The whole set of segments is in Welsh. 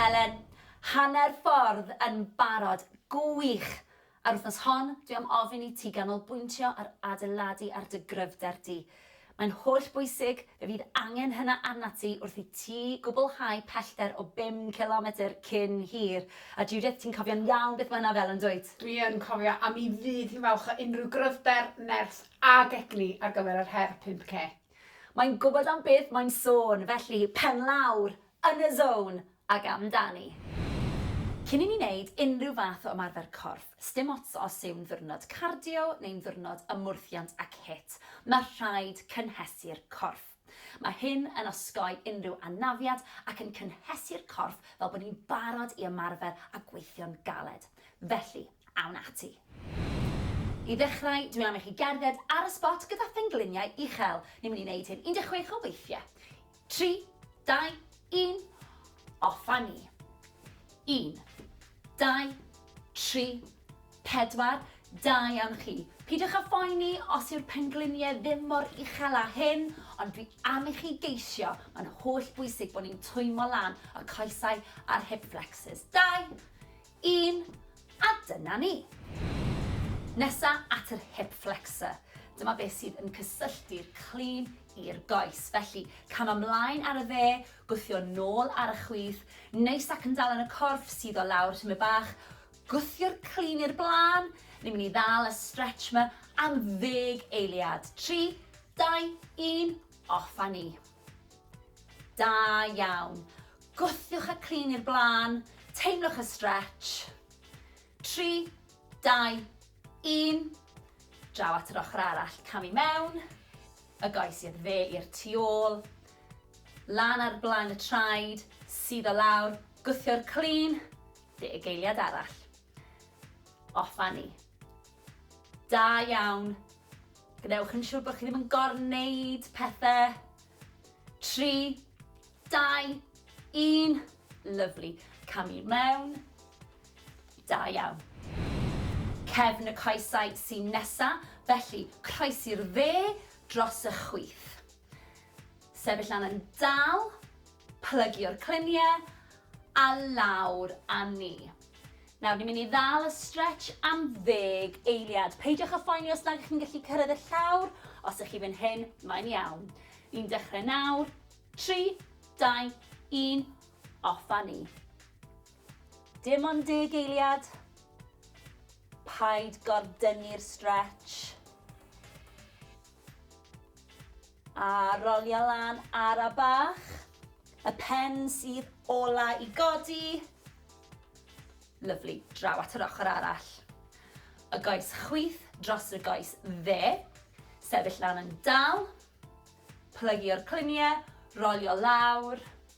Elen, hanner ffordd yn barod. Gwych! A'r wythnos hon, dwi am ofyn i ti ganolbwyntio ar adeiladu ar dy gryfder di. Mae'n holl bwysig, fe fydd angen hynna arnat ti wrth i ti gwblhau pellter o bum cilometr cyn hir. A Judith, ti'n cofio'n iawn beth mae hynna fel, yn dwyt? Dwi yn cofio, a mi fydd hi'n falch o unrhyw gryfder, nerth ag egni ar gyfer yr her 5K. Mae'n gwybod am beth mae'n sôn, felly pen lawr, yn y zone, ac amdani. Cyn i ni wneud unrhyw fath o ymarfer corff, sdim ots os yw'n ddiwrnod cardio neu'n ddiwrnod ymwrthiant ac HIIT, mae rhaid cynhesu'r corff. Mae hyn yn osgoi unrhyw anafiad ac yn cynhesu'r corff fel bod ni'n barod i ymarfer a gweithio'n galed. Felly, Awn ati. I ddechrau, dwi am i chi gerdded ar y sbot gyda phengliniau uchel. Ni'n mynd i wneud hyn 16 o weithiau. 3, 2, 1, off a ni. 1, 2, 3, 4, da iawn chi. Peidiwch â phoeni os yw'r pengliniau ddim mor uchel â hyn, ond dwi am i chi geisio, mae'n holl bwysig bod ni'n twymo lan y coesau a'r hip flexors. 2, 1 a dyna ni! Nesa at yr hip flexor, dyma beth sydd yn cysylltu'r clean i'r goes. Felly, cam ymlaen ar y dde, gwthio nôl ar y chwith, neis ac yn dal yn y corff, sydd o lawr tymed bach, gwthio'r clean i'r blaen, ni'n mynd i ddal y stretch ma am ddeg eiliad. 3, 2, 1, off a ni! Da iawn. Gwthiwch a crin i'r blaen, teimlwch y stretch. 3, 2, 1. Draw at yr ochr arall, cam i mewn. Y goes i'r dde i'r tu ôl. Lan ar blaen y traed, sydd o lawr, gwthio'r crin, deg eiliad arall. Off Fanny. Da iawn. Gwnewch yn siŵr bod chi ddim yn gorneud pethau. 3, 2, 1. Lyflu. Cam i mewn. Da iawn. Cefn y coesau sy'n nesa, felly croesi'r dde dros y chwith. Sefyll lan yn dal, plygio'r cluniau a lawr a ni. Nawr, ni'n mynd i ddal y stretch am ddeg eiliad. Peidiwch â phoeni os nad chi'n gallu cyrraedd y llawr, os ych chi fan hyn, mae'n iawn. Ni'n dechrau nawr, 3, 2, 1, off a ni. Dim ond deg eiliad. Paid gordynnu'r stretch. A rolia lan ara bach. Y pen sydd ola i godi. Lyfli, draw at yr ochr arall. Y goes chwith dros y goes dde. Sefyll lan yn dal. Plygio'r cluniau, rolio lawr.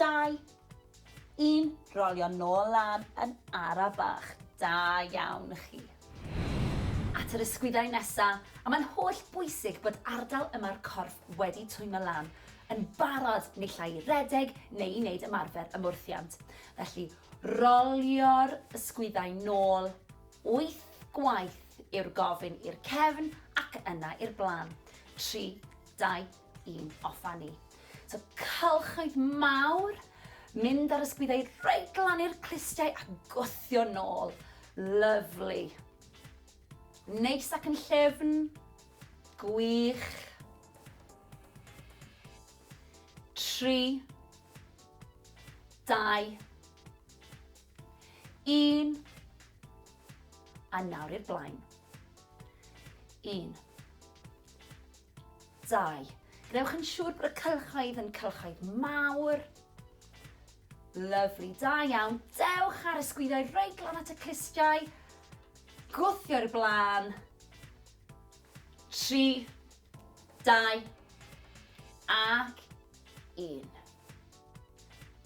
Dau. Un, rolio nôl lan yn ara bach. Da iawn chi. At yr ysgwyddau nesa, a mae'n holl bwysig bod ardal yma'r corff wedi twymo lan, yn barod naill ai i redeg neu i wneud ymarfer ymwrthiant. Felly, rolio'r ysgwyddau nôl, wyth gwaith yw'r gofyn i'r cefn ac yna i'r blaen. Tri, dau, i'n offa ni. So cylchoedd mawr, mynd ar ysgwyddau reit glan i'r clustiau a gwthio nôl. Lyflu. Neis ac yn llefn. Gwych. Tri. Dau. Un. A nawr i'r blaen. Un. 2. Gwnewch yn siŵr bod y cylchoedd yn cylchoedd mawr. Lyfli, da iawn. Dewch ar y sgwyddoedd reit glan at y clustiau. Gwthio i'r blaen. 3, 2, ac 1.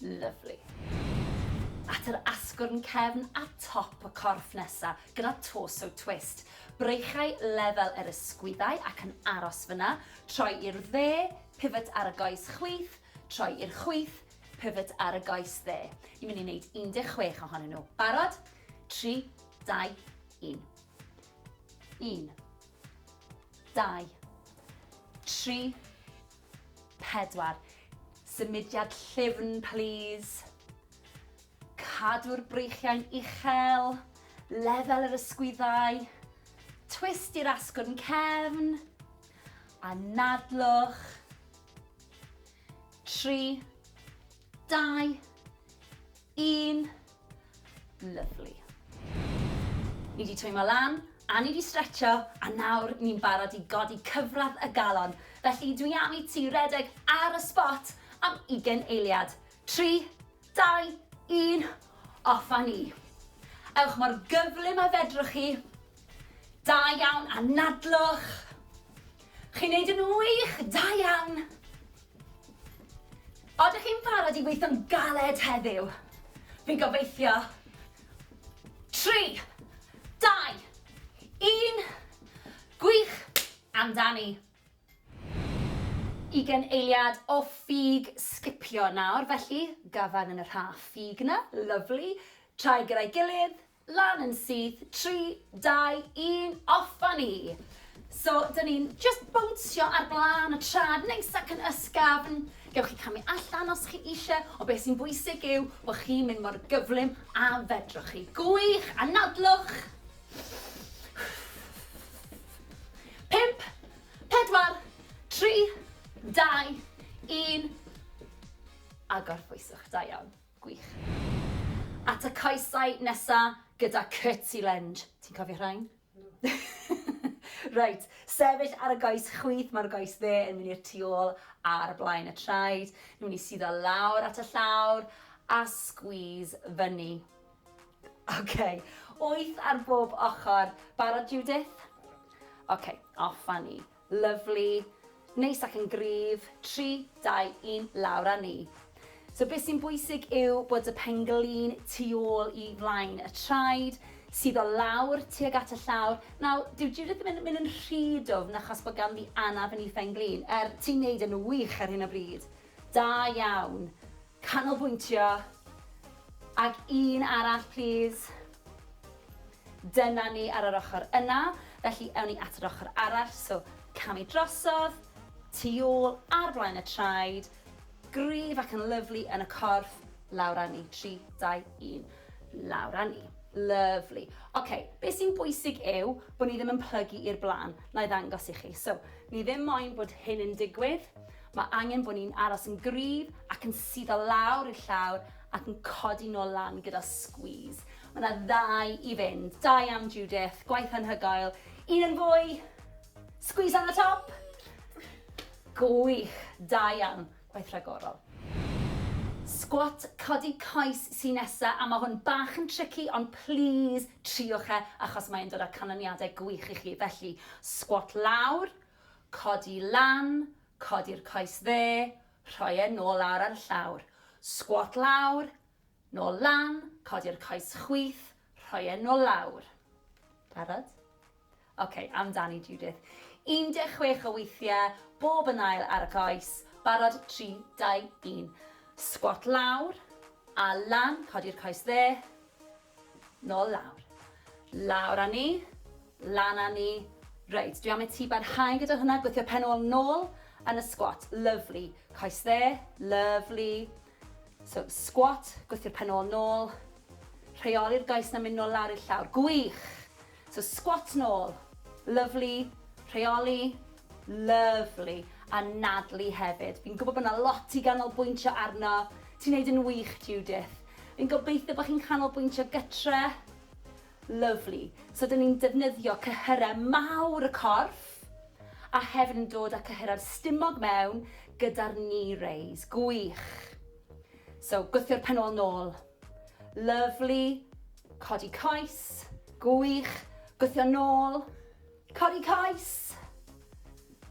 Lyfli. At yr asgwrn cefn a top y corff nesa, gyda torso twist. Breichau lefel yr ysgwyddau ac yn aros fyna, troi i'r dde, pivot ar y goes chwith, troi i'r chwith, pivot ar y goes dde. Ni'n mynd i wneud 16 ohonyn nhw. Barod? 3, 2, 1. 1, 2, 3, 4. Symudiad llyfn plîs. Cadw'r breichiau'n uchel, lefel yr ysgwyddau, twist i'r asgwrn cefn, anadlwch. 3. Dau. Un. Lovely. Ni wedi twymo lan, a ni wedi stretcho, a nawr ni'n barod i godi cyfradd y galon. Felly dwi am i ti redeg ar y spot am ugen eiliad. Tri, dau, un, off a ni. Ewch mor gyflym a fedrwch chi. Da iawn, anadlwch. Chi'n neud yn wych, da iawn. Oeddech chi'n barod i weithio'n galed heddiw? Fi'n gobeithio. Tri, dau, un, gwych amdani! Ugain eiliad o ffug sgipio nawr, felly, gafael yn y rhaff ffug 'na, lyfli, traed gyda'i gilydd, Lan yn syth, tri, dau, un, off a ni! So, dyn ni'n just bownsio ar blaen y trad, neis ac yn ysgafn. Gewch chi camu allan os chi eisiau, ond beth sy'n bwysig yw bod chi'n mynd mor gyflym a fedrwch chi. Gwych! Anadlwch! Pump, pedwar, tri, dau, un, a gorffwyswch. Da iawn. Gwych. At y coesau nesa gyda Curtsy Lend. Ti'n cofio rhain? Reit, sefyll ar y goes chwith, mae'r goes dde yn mynd i'r tu ôl ar blaen y traed. Ni'n mynd i suddo lawr at y llawr a squeeze fyny. OK, wyth ar bob ochr. Barod Judith? OK, off a ni. Lyfli. Neis ac yn gryf. Tri, dau, un, lawr â ni. So beth sy'n bwysig yw bod y penglin tu ôl i flaen y traed, sydd o lawr tuag at y llawr. Nawr, dyw Judith ddim yn mynd yn rhy dwfn achos bod ganddi anaf yn ei phenglin. Er, ti'n neud e'n wych ar hyn o bryd. Da iawn. Canolbwyntio. Ag un arall plîs. Dyna ni ar yr ochr yna, felly ewn ni at yr ochr arall, so camu drosodd, tu ôl, ar flaen y traed, gryf ac yn lyfli yn y corff, lawr â ni, 3, 2, 1, lawr â ni. Lyfli. Oce, be sy'n bwysig yw bod ni ddim yn plygu i'r blaen, na i ddangos i chi. So, ni ddim moyn bod hyn yn digwydd, Mae angen bod ni'n aros yn gryf ac yn suddo lawr i'r llawr ac yn codi nôl lan gyda squeeze. Mae 'na ddau i fynd. Da iawn Judith, gwaith anhygoel. Un yn fwy. Squeeze lan y top. Gwych, da iawn, gwaith rhagorol. Squat codi coes sy nesa a mae hwn bach yn tricky ond plîs triwch e achos mae'n dod â canlyniadau gwych i chi. Felly, squat lawr, Codi lan, codi'r coes dde, rhoi e nôl lawr ar y llawr. Sgwot lawr, nôl lan, codi'r coes chwith, rhoi e nôl lawr. Barod? OK, amdani Judith. 16 o weithiau, bob yn ail ar y coes. Barod, 3, 2, 1. Sgwot lawr, a lan, codi'r coes dde. Nôl lawr. Lawr â ni. Lan â ni. Reit, dwi am i ti barhau gyda hwnna, gwthio pen ôl nôl yn y squat. Lyfli. Coes dde, lyfli. So, squat, gwthio'r pen ôl nôl. Rheoli'r goes na mynd nôl lawr i'r llawr. Gwych! So squat nôl. Lyfli. Rheoli. Lyfli. Anadlu hefyd. Fi'n gwybod bod yna lot i ganolbwyntio arno. Ti'n neud yn wych, Judith. Fi'n gobeithio bod chi'n canolbwyntio gytre. Lyfli. So dyn ni'n defnyddio cyhyrau mawr y corff a hefyd yn dod â cyhyrau'r stumog mewn gyda'r knee raise. Gwych. So gwthio'r pen ôl nôl. Lyfli. Codi coes. Gwych. Gwthio nôl. Codi coes.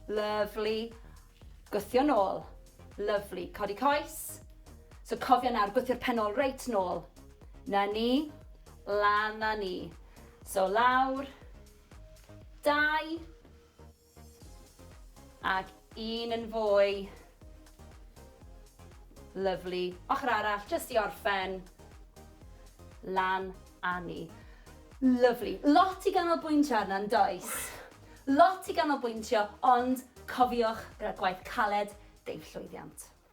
Lyfli. Gwthio nôl. Lyfli. Codi coes. So cofio nawr, gwthio'r pen ôl reit nôl. Na ni. Lan na ni. So lawr. Dau. Ac un yn fwy. Lyfli. Ochr arall, jyst i orffen. Lan a ni. Lyfli. Lot i ganolbwyntio arno, yn does? Lot i ganolbwyntio, ond cofiwch, gyda gwaith caled, deuwch llwyddiant.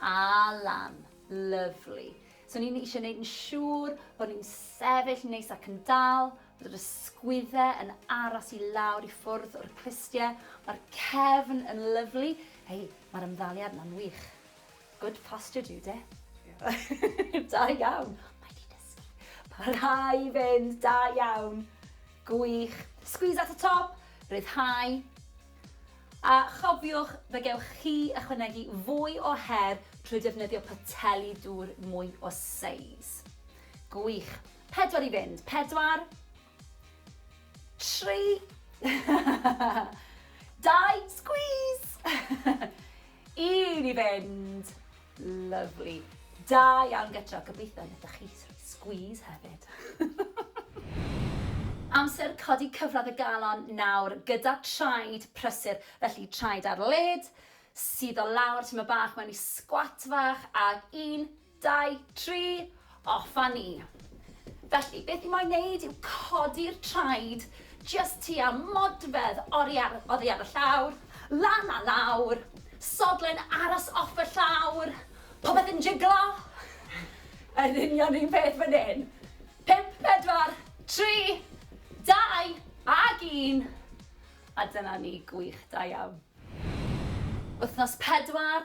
Ah lan. Lyfli. So ni'n eisiau gwneud yn siŵr bod ni'n sefyll neis ac yn dal, bod yr ysgwyddau yn aros i lawr i ffwrdd o'r clustiau. Mae'r cefn yn lyfli. Hei, mae'r ymddaliad yna'n wych. Good posture, Jude. da iawn. Mae di dysgu. Parhau i fynd, da iawn. Gwych. Squeeze at y top, rhyddhau. A chofiwch, fe gewch chi ychwanegu fwy o her trwy defnyddio poteli dŵr mwy o seis. Gwych. Pedwar i fynd. Pedwar. Tri. Dau. Squeeze! I ni fynd! Lyfli. Da iawn gytro, gobeithio wnaethoch chi rhoi squeeze hefyd. Amser codi cyfradd y galon nawr gyda traed prysur, felly traed ar led, suddo lawr tyma' bach mewn i sgwat fach ag un, Dau, tri, off a ni! Felly, beth i moyn wneud yw codi'r traed jyst tua modfedd oddi ar, oddi ar y llawr, lan a lawr, sodle'n aros off y llawr, popeth yn jiglo! Yr union un peth fan hyn! Pump, pedwar, tri, dau, ag un! A dyna ni, gwych, da iawn. Wythnos pedwar,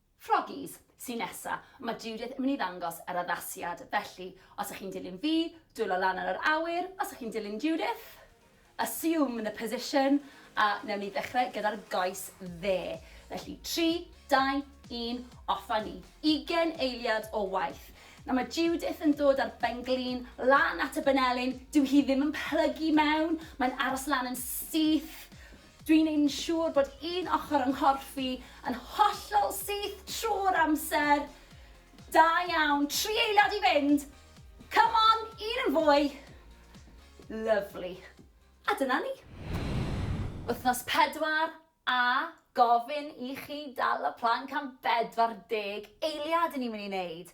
Froggies, Su' nesa? Mae Judith yn mynd i ddangos yr addasiad, felly, os ych chi'n dilyn fi, dwylo lan ar yr awyr, os ych chi'n dilyn Judith, assume the position, a newn ni ddechrau gyda'r goes dde. Felly, tri, dau, un, off â ni. Ugain eiliad o waith. Nawr mae Judith yn dod â'r benglin lan at y banelin, dyw hi ddim yn plygu mewn, mae'n aros lan yn syth, Dwi'n ein siŵr bod un ochr yng nghorff i yn hollol syth trwy'r amser. Da iawn. Tri eiliad i fynd. Come on, un yn fwy. Lyfli. A dyna ni. Wythnos pedwar, a gofyn i chi dal y planc am bedwar deg eiliad 'yn ni'n mynd i 'neud.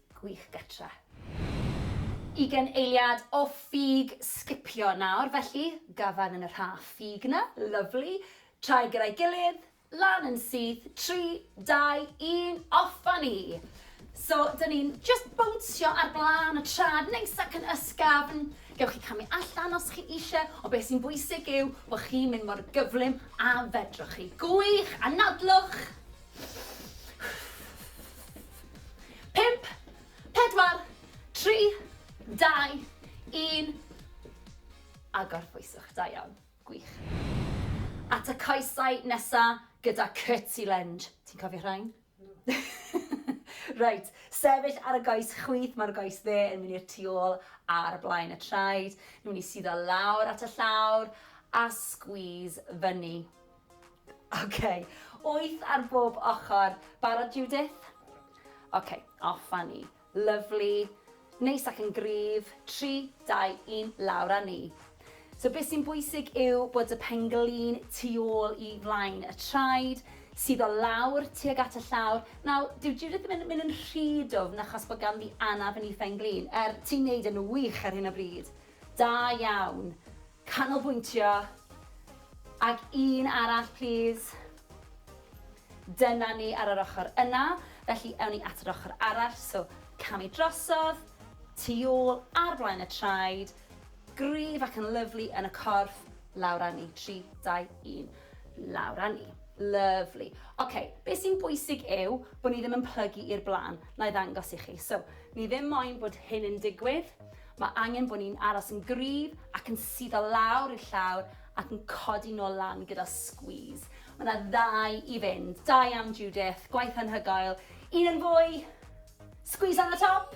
Gwych Getra. Ugen eiliad o ffug sgipio nawr felly, gafan yn y rha ffug na, lyfli, traed gyda'i gilydd, lan yn syth, tri, dau, un, off a ni! So, dyn ni'n just bownsio ar blaen y trad neis ac yn ysgafn, gewch chi camu allan os chi eisiau, ond beth sy'n bwysig yw bod chi'n mynd mor gyflym a fedrwch chi. Gwych! Anadlwch! Pump, pedwar, tri, dau, un, a gorffwyswch, da iawn, gwych. At y coesau nesa gyda Curtsy Lunge, ti'n cofio rhain? Reit, sefyll ar y goes chwith, mae'r goes dde yn mynd i'r tu ôl ar blaen y traed, nhw'n i suddo lawr at y llawr a squeeze fyny. Ok, wyth ar bob ochr. Barod Judith? Ok, off a ni. Lyfli. Neis ac yn gryf. Tri, dau, un, lawr a ni. So beth sy'n bwysig yw bod y penglin tu ôl i flaen y traed, sydd o lawr tuag at y llawr. Nawr, dyw Judith ddim yn mynd yn rhy dwfn achos bod ganddi anaf yn ei phenglin. Er, ti'n neud e'n wych ar hyn o bryd. Da iawn. Canolbwyntio. Ag un arall plîs. Dyna ni ar yr ochr yna, felly ewn ni at yr ochr arall, so camu drosodd, tu ôl, ar flaen y traed, gryf ac yn lyfli yn y corff, lawr â ni, 3, 2, 1, lawr â ni. Lyfli. Oce, be sy'n bwysig yw bod ni ddim yn plygu i'r blaen, na i ddangos i chi. So, ni ddim moyn bod hyn yn digwydd, Mae angen bod ni'n aros yn gryf ac yn suddo lawr i'r llawr ac yn codi nôl lan gyda squeeze. Mae 'na ddau i fynd. Da iawn Judith, gwaith anhygoel. Un yn fwy. Squeeze on the top.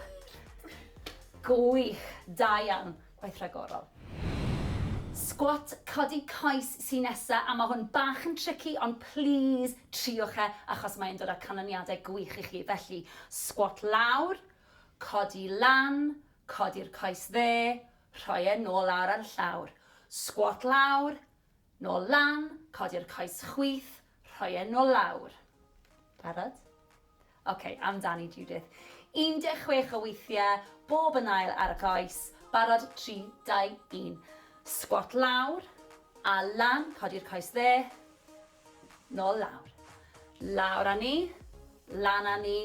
Gwych, da iawn, gwaith rhagorol. Squat codi coes sy'n nesa a mae hwn bach yn tricky ond please triwch e achos mae'n dod â canlyniadau gwych i chi. Felly, squat lawr, Codi lan, codi'r coes dde, rhoi e nôl lawr ar y llawr. Sgwot lawr, nôl lan, codi'r coes chwith, rhoi e nôl lawr. Barod? OK, amdani Judith. 16 o weithiau, bob yn ail ar y coes. Barod, 3, 2, 1. Sgwot lawr, a lan, codi'r coes dde. Nôl lawr. Lawr â ni. Lan â ni.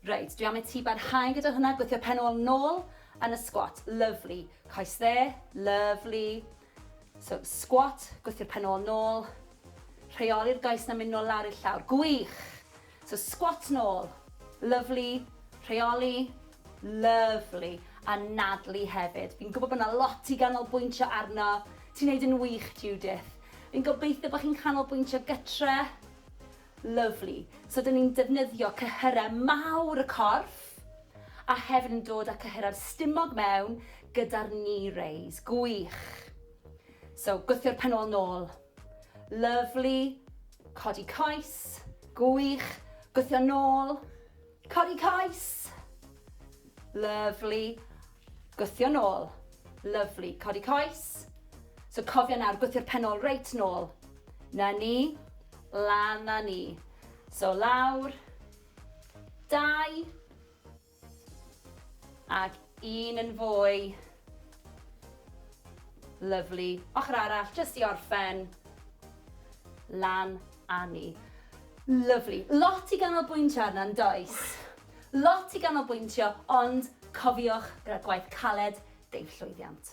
Reit, dwi am i ti barhau gyda hwnna, gwthio pen ôl nôl yn y squat. Lyfli. Coes dde, lyfli. So, squat, gwthio'r pen ôl nôl. Rheoli'r goes na mynd nôl lawr i'r llawr. Gwych! So squat nôl. Lyfli. Rheoli. Lyfli. Anadlu hefyd. Fi'n gwybod bod yna lot i ganolbwyntio arno. Ti'n neud yn wych, Judith. Fi'n gobeithio bod chi'n canolbwyntio gytre. Lyfli. So dyn ni'n defnyddio cyhyrau mawr y corff a hefyd yn dod â cyhyrau'r stumog mewn gyda'r knee raise. Gwych. So gwthio'r pen ôl nôl. Lyfli. Codi coes. Gwych. Gwthio nôl. Codi coes. Lyfli. Gwthio nôl. Lyfli. Codi coes. So cofio nawr, gwthio'r pen ôl reit nôl. Na ni. Lan na ni. So lawr. Dau. Ac un yn fwy. Lyfli. Ochr arall, jyst i orffen. Lan a ni. Lyfli. Lot i ganolbwyntio arno, yn does? Lot i ganolbwyntio, ond cofiwch, gyda gwaith caled, deu'r llwyddiant.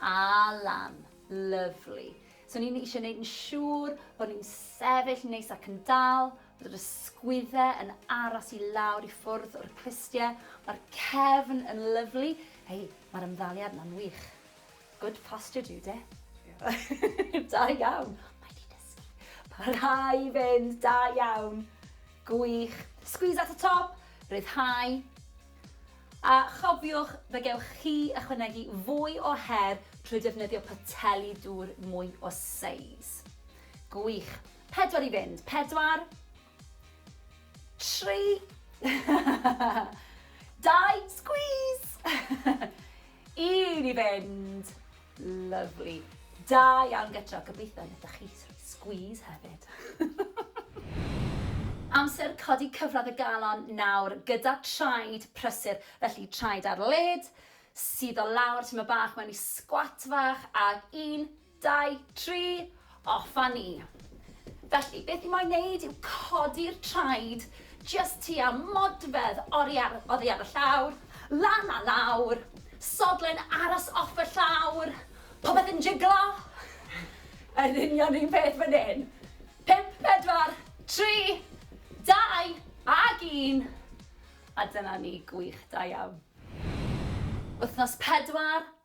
Alan, Lyfli. So ni'n eisiau gwneud yn siŵr bod ni'n sefyll neis ac yn dal, bod yr ysgwyddau yn aros i lawr i ffwrdd o'r clustiau. Mae'r cefn yn lyfli. Hei, mae'r ymddaliad yna'n wych. Good posture, Jude. da iawn. Mae di dysgu. Parhau i fynd, da iawn. Gwych. Squeeze at y top, rhyddhau. A chofiwch, fe gewch chi ychwanegu fwy o her trwy defnyddio poteli dŵr mwy o seis. Gwych. Pedwar i fynd. Pedwar. Tri. Dau. Squeeze! I ni fynd! Lyfli. Da iawn gytro, gobeithio wnaethoch chi squeeze hefyd. Amser codi cyfradd y galon nawr gyda traed prysur, felly traed ar led, suddo lawr tyma' bach mewn i squat fach ag un, Dau, tri, off a ni! Felly, beth i moyn wneud yw codi'r traed jyst tua modfedd oddi ar y llawr, lan a lawr, sodle'n aros off y llawr, popeth yn jiglo! Yr union un peth fan hyn! Pump, pedwar, tri, dau, ag un! A dyna ni, gwych, da iawn. Wythnos pedwar,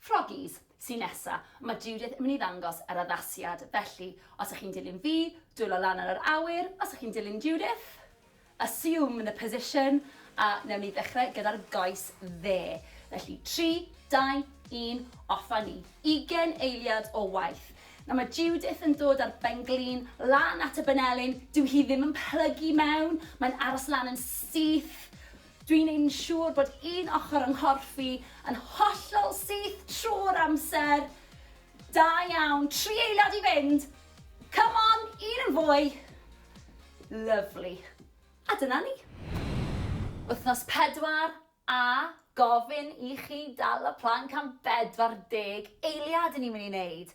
Froggies, Su' nesa, ma' Judith yn mynd i ddangos yr addasiad, felly os 'ych chi'n dilyn fi, dwylo lan ar yr awyr, os 'ych chi'n dilyn Judith, assume the position, a newn ni ddechre gyda'r goes dde. Felly, tri, dau, un, off a ni. Ugen eiliad o waith. Nawr ma' Judith yn dod â'r benglin lan at y banelin, dyw hi ddim yn plygu mewn, mae'n aros lan yn syth, Dwi'n ein siŵr bod un ochr yng nghorff i yn hollol syth trwy'r amser. Da iawn, tri eiliad i fynd! Come on, un yn fwy! Lyfli. A dyna ni. Wythnos pedwar, a gofyn i chi dal y planc am bedwar deg eiliad 'yn ni'n mynd i 'neud.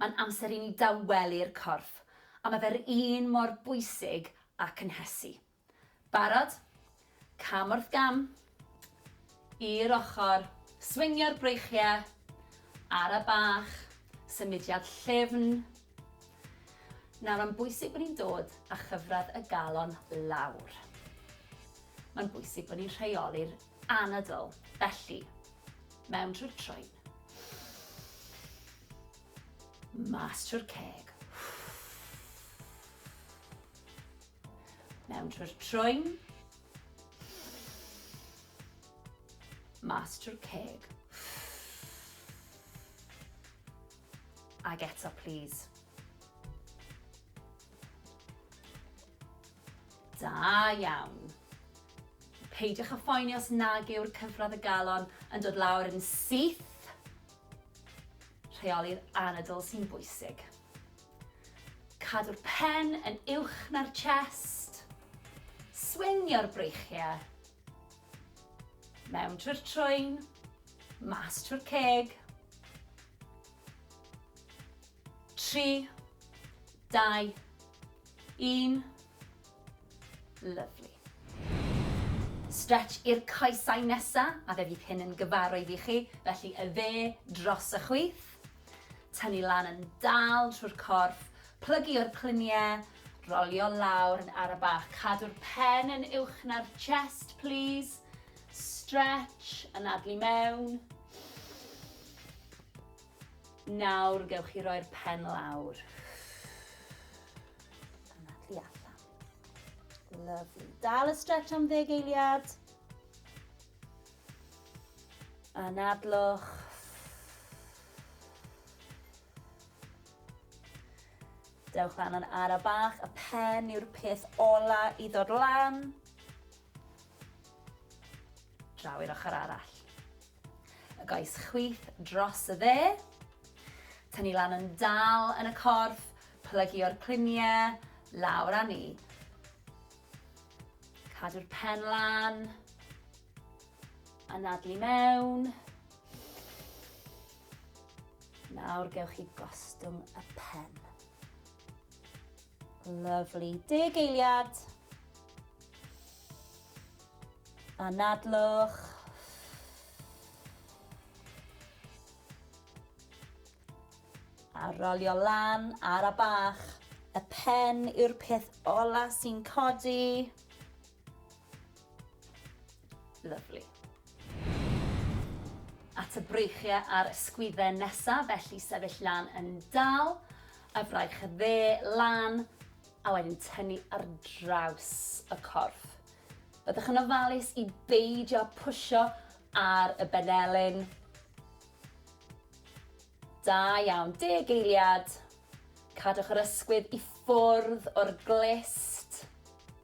Mae'n amser i ni dawelu'r corff, a mae fe'r un mor bwysig â cynhesu. Barod? Cam wrth gam. I'r ochr. Swingio'r breichiau. Ara bach. Symudiad llyfn. Nawr, mae'n bwysig bod ni'n dod â chyfradd y galon lawr. Mae'n bwysig bod ni'n rheoli'r anadl, felly, mewn trwy'r troen. Mas trwy'r ceg. Mewn trwy'r troen. Mas trwy'r ceg. Ag eto, please. Da iawn. Peidiwch â phoeni os nag yw'r cyfradd y galon yn dod lawr yn syth. Rheoli'r anadl sy'n bwysig. Cadw'r pen yn uwch na'r chest. Swingio'r breichiau. Mewn trwy'r trwyn, mas trwy'r ceg. 3, 2, 1. Lyfli. Stretch i'r coesau nesa, a fe fydd hyn yn gyfarwydd i chi, felly y dde dros y chwith. Tynnu lan yn dal trwy'r corff, plygu o'r clunie, rolio lawr yn ara bach. Cadw'r pen yn uwch na'r chest, plîs. Stretch, anadlu mewn. Nawr gewch chi roi'r pen lawr. Yna tu allan. Lovely. Dal y stretch am ddeg eiliad. Anadlwch. Dewch lan yn ara bach, y pen yw'r peth ola i ddod lan. Draw i'r ochr arall. Y goes chwith dros y dde. Tynnu lan yn dal yn y corff, plygio'r cliniau, lawr â ni. Cadw'r pen lan. Anadlu mewn. Nawr gewch chi gostwng y pen. Lyfli. Deg eiliad. Anadlwch. A rolio lan ar a bach. Y pen yw'r peth ola sy'n codi. Lyfli. At y breichiau a'r ysgwydden nesaf, felly sefyll lan yn dal, y fraich dde lan, a wedyn tynnu ar draws y corff. Byddwch yn ofalus i beidio pwysio ar y benelin. Da iawn, deg eiliad. Cadwch yr ysgwydd i ffwrdd o'r glist.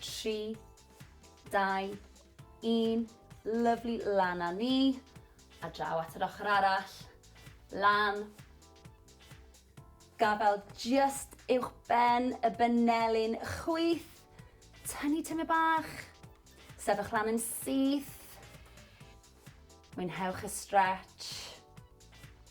3, 2, 1, lyflu lan a ni, a draw at yr ochr arall, lan, gafael just uwch ben y benelin chwith, tynnu tyme bach, sefych lan yn syth, mwynhewch y stretch,